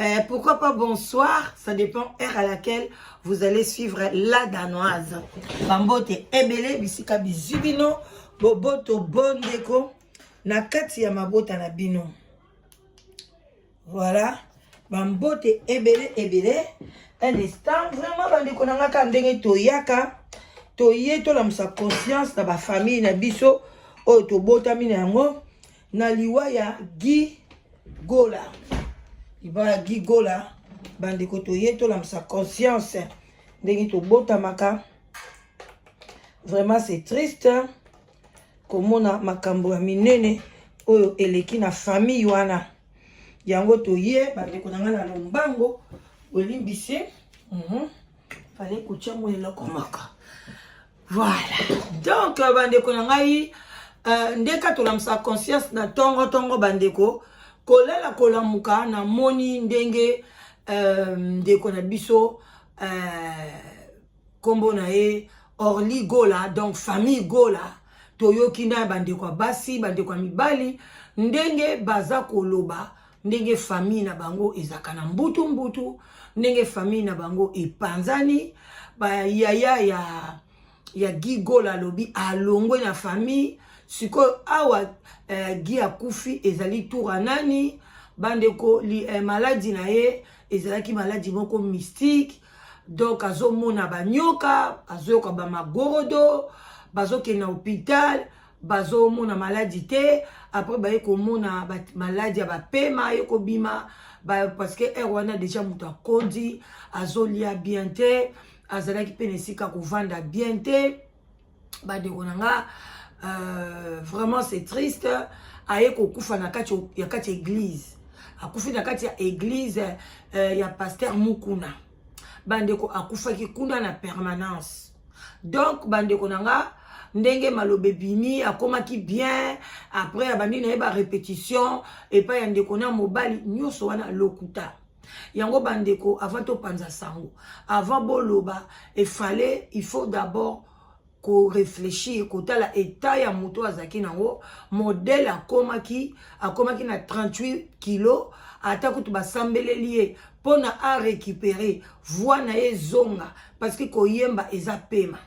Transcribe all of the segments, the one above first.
Euh, pourquoi pas bonsoir Ça dépend heure à laquelle vous allez suivre la danoise. Bambote ebele bisika bizubino boboto bondeko na kati ya mabota na bino. Voilà. Bambote ebele ebele. Un instant vraiment bandeko na nga ka ndenge toyaka toye tolamusa conscience na bafamille na biso oyo tobotami na yango na liwa ya Guy Gola liwa ya Guy Gola bandeko toye tolamusa conscience ndenge tobotamaka vraiment c'est triste komona makambo ya minene oyo eleki na famille wana yango toye bandeko na ngai na lombango olimbisi mm -hmm. fale kotya mwa eloko moko Voilà. Donc, euh, bandeko na ngai, euh, nde ka tolamusa conscience na tongo tongo bandeko, kolala kolamuka na moni ndenge euh, ndeko na biso euh, kombo na ye Orly Gola, donc famille Gola, toyoki na bandeko ya basi, bandeko ya mibali ndenge baza koloba ndenge famille na bango ezalaka na mbutu mbutu ndenge famille na bango epanzani bayaya ya ya guy gola alobi alongwe na famille sikoyo awa eh, guy akufi ezali tura nani bandeko eh, maladi na ye ezalaki maladi moko mystique donc azomona banyoka azoyoka bamagorodo bazokende na hôpital bazomona maladi te après baye komona maladi ya bapema ye kobima parce que heure wana deja moto akondi azolia bien te azalaki mpe na esika kovanda bien te bandeko na nga euh, vraiment c'est triste aye kokufa na kati ya kati ya église akufi na kati ya église euh, ya pasteur mukuna bandeko akufaki kuna na permanence donc bandeko na nga ndenge maloba ebimi akomaki bien après abandi na ye barépétition epai ya ndeko na mobali nyonso wana lokuta yango bandeko avant topanza sango avant boloba efale il faut d'abord koreflechir kotala etat ya moto oyo azalaki nango modele akomaki akomaki na 38 kilo ata kutu basambeleli ye mpo na a récupérer voi na ye ezonga parce que koyemba eza pema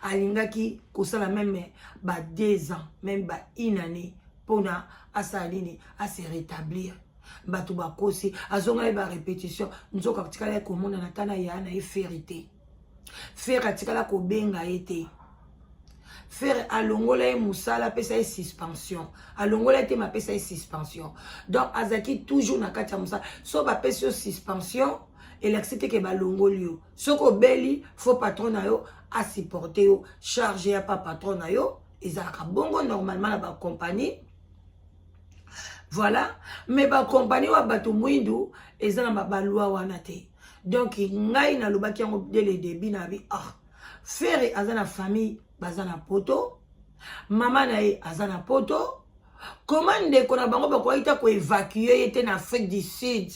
alingaki kosala meme ba deux ans meme ba une année mpo na asala nini ase rétablir bato bakosi azongai ba répétition nzoka tikalaki komonana ata na yaya na ye ferite Ferre atikala kobenga ye te. Ferre alongola ye mosala apesa ye suspension. Alongola ye te ma apesa ye suspension. Donc azalaki toujours na kati ya mosala. So bapesi yo suspension elakisi te ke balongoli yo. Soki obeli fo patron na yo asupporte yo charge ya pa patron na yo ezalaka bongo normalement na bacompagnie voilà mais bacompagnie wa bato mwindu eza na balwa wana te donc ngai nalobaki yango dès le début na bi ah ferre aza na famille baza na poto mama na ye aza na poto koma ndeko na bango bakoki ta koevacue ye te na afrique du sud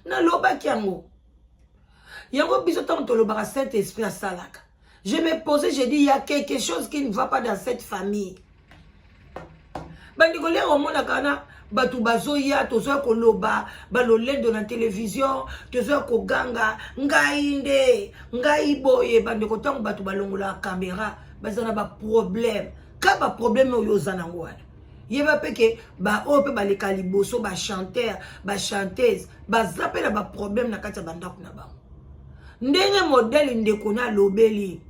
nalobaki yango yango biso ntango tolobaka saint esprit asalaka Je me posais, j'ai dit, il y a quelque chose qui ne va pas dans cette famille. bandeko lelo omonaka na bato bazoya tozoya koloba balolendo na televizio tozoya koganga ngai nde ngai boye bandeko ntango bato balongolaka kamera baza na baproblème ka baproblème oyo oza nango wana yeba mpe ke baoyo mpe baleka liboso bachanteur bachanteuse baza mpe na baproblème na kati ya bandako na bango ndenge modele ndeko na alobeli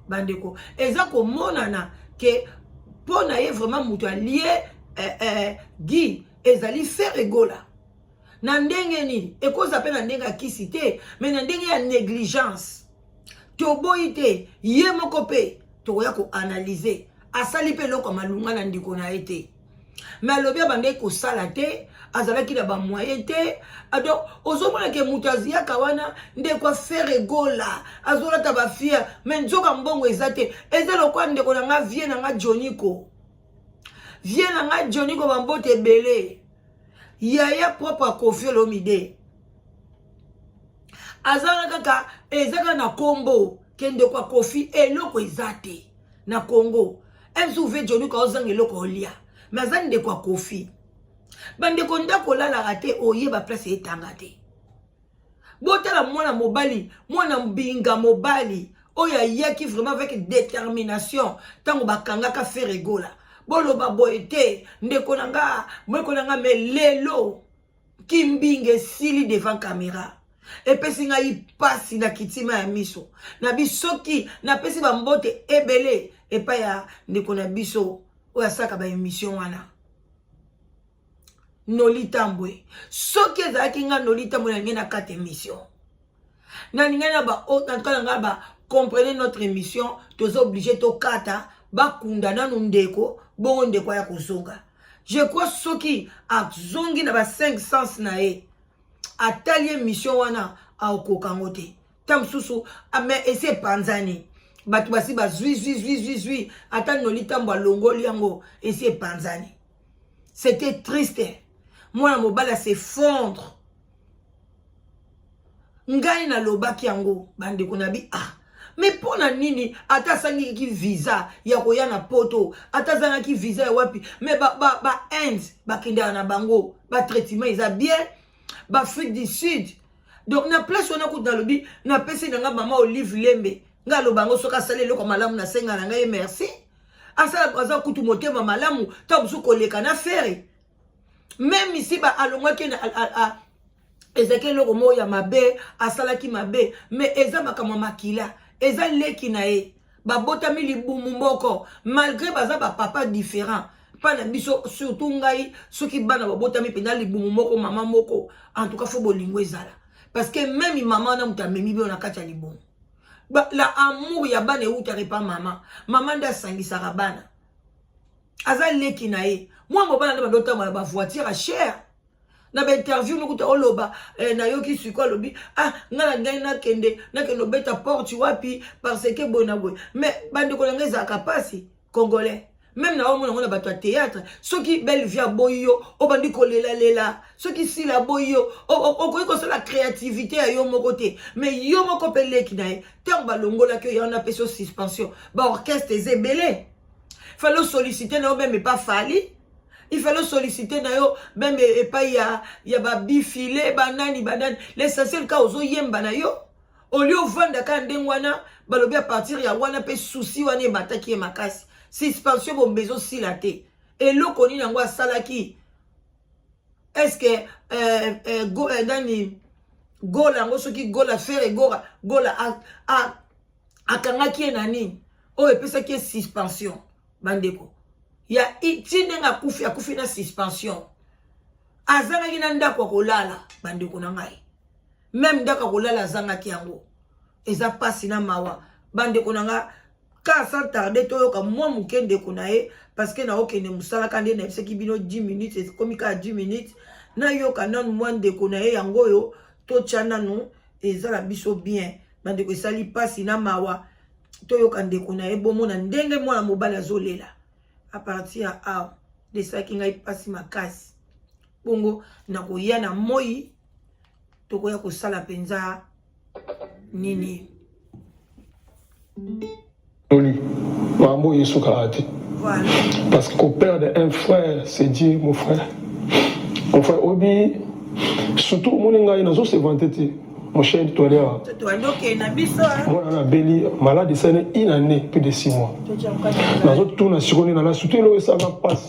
bandeko eza komonana ke mpo na ye vraiment moto alie eh, eh, gi ezali fere egola na ndenge nini ekoza mpe na ndenge ya kisi te me na ndenge ya negligence toboyi te ye moko mpe tokoya koanalyze asali mpe eloko ya malunga na ndeko na ye te me alobi abandaki kosala te azalaki na bamoyen te ah, donc ozomona ke moto aziyaka wana ndeko afere egola azolata bafiere me nzoka mbongo eza te eza lokola ndeko na nga vie na nga joniko vie na ngai joni ko bambote ebele yaya propre akofi olomide azanga kaka eza kaka na kombo kendeko akofi eloko eza te na congo msuv joni ko ozanga eloko olia me aza ndeko akofi bandeko ndako olalaka te oyeba place etanga te botala mwana mobali mwana mbinga mobali oyo ayaki vraiment avec détermination ntango bakangaka feregola boloba boye te ndeko na nga mweko na nga me lelo kimbinga esili devant camera epesi ngai mpasi na kitima ya miso na bisoki napesi bambote ebele epai ya ndeko na biso oyo asaka baemission wana noli tambwe soki ezalaki nga noli tambwe na ngai na kati émission nalingai na baotantuka na ngai ba comprenez notre émission toza oblige tokata bakunda nanu ndeko bongo ndeko aya kozonga je crois soki azongi na ba 5 sens na ye atali émission wana aokoka yango te ntango mosusu ah, mais esi epanzani bato basi bazwi zwi zwi zwi zwi ata noli ntambo alongoli yango esi epanzani c'était triste mwana mobali asefondre ngai nalobaki yango bandeko na bi ah me mpo na nini ata asangiki visa ya koya na poto ata azangaki visa ya wapi me bainde ba, ba bakendaka na bango batraitement eza bien baafrique du sud donc na place wana kutu nalobi napesi na ngai mama olive lembe ngai aloba yango soki asali eloko malamu nasenga na ngai ye merci asala aza kutu motema malamu ta mosusu koleka na fere meme isi ba alongwaki na ezalaki eloko moko ya mabe asalaki mabe me eza makambo ya makila eza leki na ye babotami libumu moko malgré baza bapapa différent mpa na biso surtout ngai soki bana babotami mpenza libumu moko mama moko en tout cas fo bolingo ezala parce que meme mama wana moto amemi bino na kati ya libumu ba, la amour ya bana ewutaka epa mama mama nde asangisaka bana aza leki na ye mwa mobala nde bando otambola bavoitire ya chere na bainterview nokuta oloba eh, nayoki siko alobi ah nga na ngai nakende nakende obeta porte wapi parce que boye na boye mais bandeko na ngai ezalaka mpasi congolais meme na omona yango na bato ya théâtre soki belle vie aboyi yo obandi kolelalela soki sila aboyi yo okoki kosala créativité ya yo moko te mais yo moko mpe leki na ye ntango balongolaki yo yango napesi yo suspension baorchestre eza ebele fale osollicite na yo meme epa fali il fallait solliciter na yo meme epai ya, ya babifile banani banani l'essentiel ka ozoyemba na yo olie ovanda kaka ndenge wana balobi a partir ya wana mpe susi wana emataki ye makasi suspension bombe ezosila te eloko nini yango asalaki estce euh, euh, go, euh, nani gola yango soki gola fere gora gola akangaki ye na nini oyo epesaki ye suspension bandeko ya ti ndenge akufi akufi na suspension azangaki na ndako ya kolala bandeko na ngai meme ndako ya kolala azangaki yango eza mpasi na mawa bandeko na nga ka sans tarde toyoka mwa moke ndeko na ye parceke naokende mosala ka nde nayebisaki bino 10 minutes ekomi kaka 10 minutes nayoka nanu mwa ndeko na ye yango oyo totya nanu eza na biso bien bandeko esali mpasi na mawa toyoka ndeko na ye bomona ndenge mwana mobali azolela apartir ya awa desalaki ngai mpasi makasi bongo nakoya na moi tokoya kosala mpenza nini toli makambo oyo esukaka te parce que koperdre un frère c'est dire mon frère mon frère obi surtout omoni ngai nazo se vante te mon cher Toilewa. Voilà, la Béli, malade, c'est une année, plus de six mois. Dans tout, on a surconnu, on a surtout, ça va passer.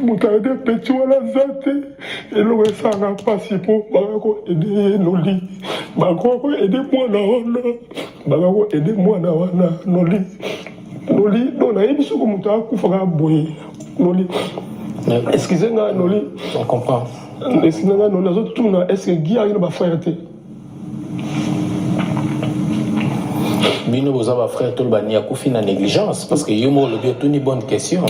moto ayebi epeti wana aza te eloko esanga mpasi mpo baka koede ye noli bakoka koede mwana wana baka koede mwana wana noli noli no nayebi soko moto akufaka boye noli excuse nga noli esina nga noli azotuna eske gi ayaki na bafrere te bino boza ba frère tolo bani akufi na négligence parce que yo moko olobi otuni bonne question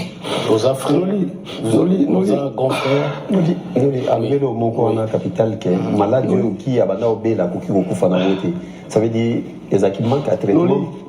oza frèreoza grand frèrenoli alobeli o moko wana capital ke maladi oyo okiya banda obela akoki kokufa na yango te ça veut dire ezalaki manque ya traitement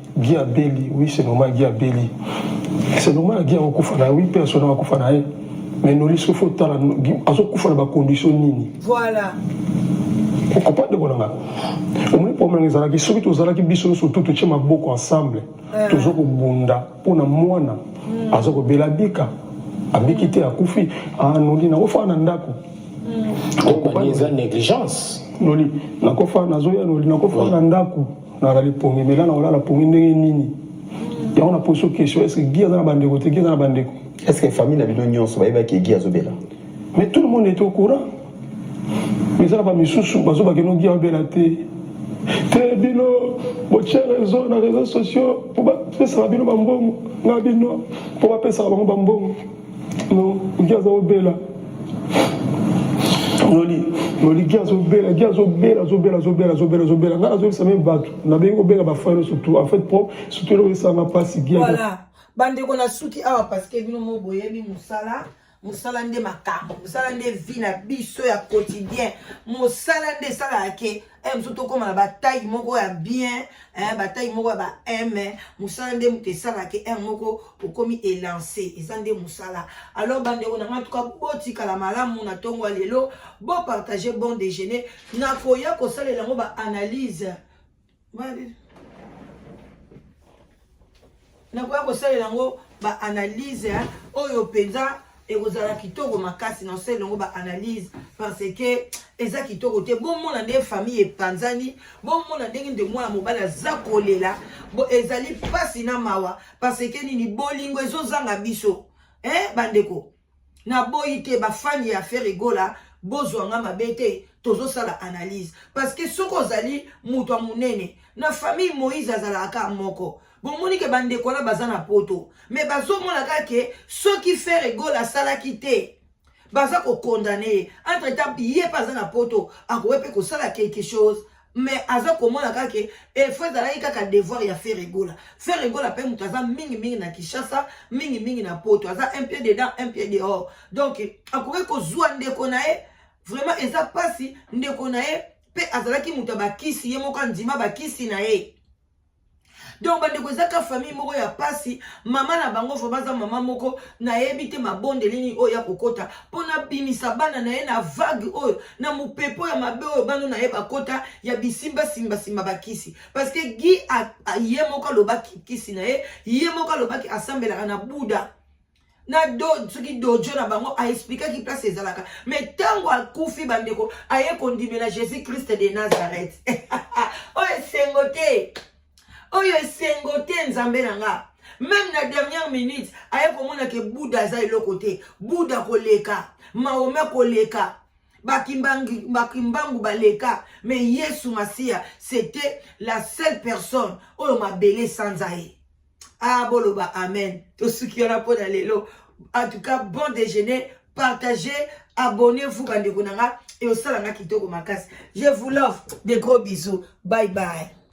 Guy abeli oui c'est normal Guy abeli c'est normal Guy akokufa na oui mpe asona akokufa na ye mais noli soki fo otala azokufa na bacondition nini voilà okopa ndeko na ngai omoni problème nanga ezalaki soki tozalaki biso nyonso tu totie maboko ensemble eh. toza kobunda mpo na mwana hmm. aza kobela bika abiki te akufi anoli ah, nakofaa na ndako hmm. eza négligence noli nakofa nazoya noli nakofa na ndako nazali pongi mela na kolala pongi ndenge nini yango na poso question est ce que gi aza na bandeko te gi aza na bandeko est ce que famille na bino nyonso bayebaki egi azobela mais tout le monde est au courant mais eza na bamisusu bazobake no gi abela te te bino botye réseau na réseau sociaux mpo bapesaka bino bambongo na bino mpo bapesaka bango bambongo Noliki azobela noli noli gi azobela gi azobela azobela azobela azobela azobela ngai nazobisa meme bato nabengi kobenga bafrère nyonso tout en fait pro surtout eloko esanga mpasi gi voilà bandeko nasuki awa parce que bino mo boyebi mosala mosala nde makambo mosala nde vie na biso ya quotidien mosala nde esalaka ke eh, biso tokóma na bataille moko ya bien eh, bataille moko ya ba m eh, mosala nde moto esalaka m moko okomi elance eza nde mosala alors bandeko na ngai tuka botikala malamu na ntongo ya lelo bopartage bon déjeuner nakoya kosalela yango baanalyse nakoya kosalela yango baanalyse hein, oyo mpenza ekozala kitoko makasi na osali yango baanalyse parce que eza kitoko te bomona nde famille epanzani bomona ndenge nde mwana mobali aza kolela bo ezali mpasi na mawa parce que nini bolingo ezozanga biso eh, bandeko Na boyi te ba fan ya Ferre Gola bozwa nga mabe te tozo sala analyse parce que soki ozali moto ya munene na famille Moïse azalaka ka moko bomoni ke bandeko wana baza na poto me bazomona kaka ke soki Ferre Gola asalaki te baza kokondane ye entre temps ye mpe aza na poto akoki mpe kosala quelque chose mais aza komona kaka ke efo ezalaki kaka devoir ya feregola feregola mpe moto aza mingimingi na kinshasa mingimingi na poto aza un pied dedans un pied dehors donc akoki kozwa ndeko na ye vraiment eza mpasi ndeko na ye mpe azalaki moto ya bakisi ye moko andima bakisi na ye donc bandeko ezaka famille moko ya pasi mama na bango vraimen aza mama moko nayebi te mabondeli nini oyo ya kokota mpo nabimisa bana na ye na vague oyo na mopepo ya mabe oyo bano na ye bakota ya bisimbasimbasimba bakisi parce que gi ye moko alobaki kisi na ye ye moko alobaki asambelaka na buda na do soki dojo na bango aexplikaki place ezalaka me ntango akufi bandeko aye kondimela jésus christ de nazareth oyo esengo te oyo esengo te nzambe na nga meme na dernière minute aye komona ke buda aza eloko te buda koleka maome koleka bakimbangu baleka me yesu masiya c'était la seule personne oyo mabele esanza ye ah boloba amen tosuki wana mpo na lelo en tout cas bon déjeuner partagez abonnez-vous bandeko na nga ekosala nga kitoko makasi je vous love de gros bisous bye bye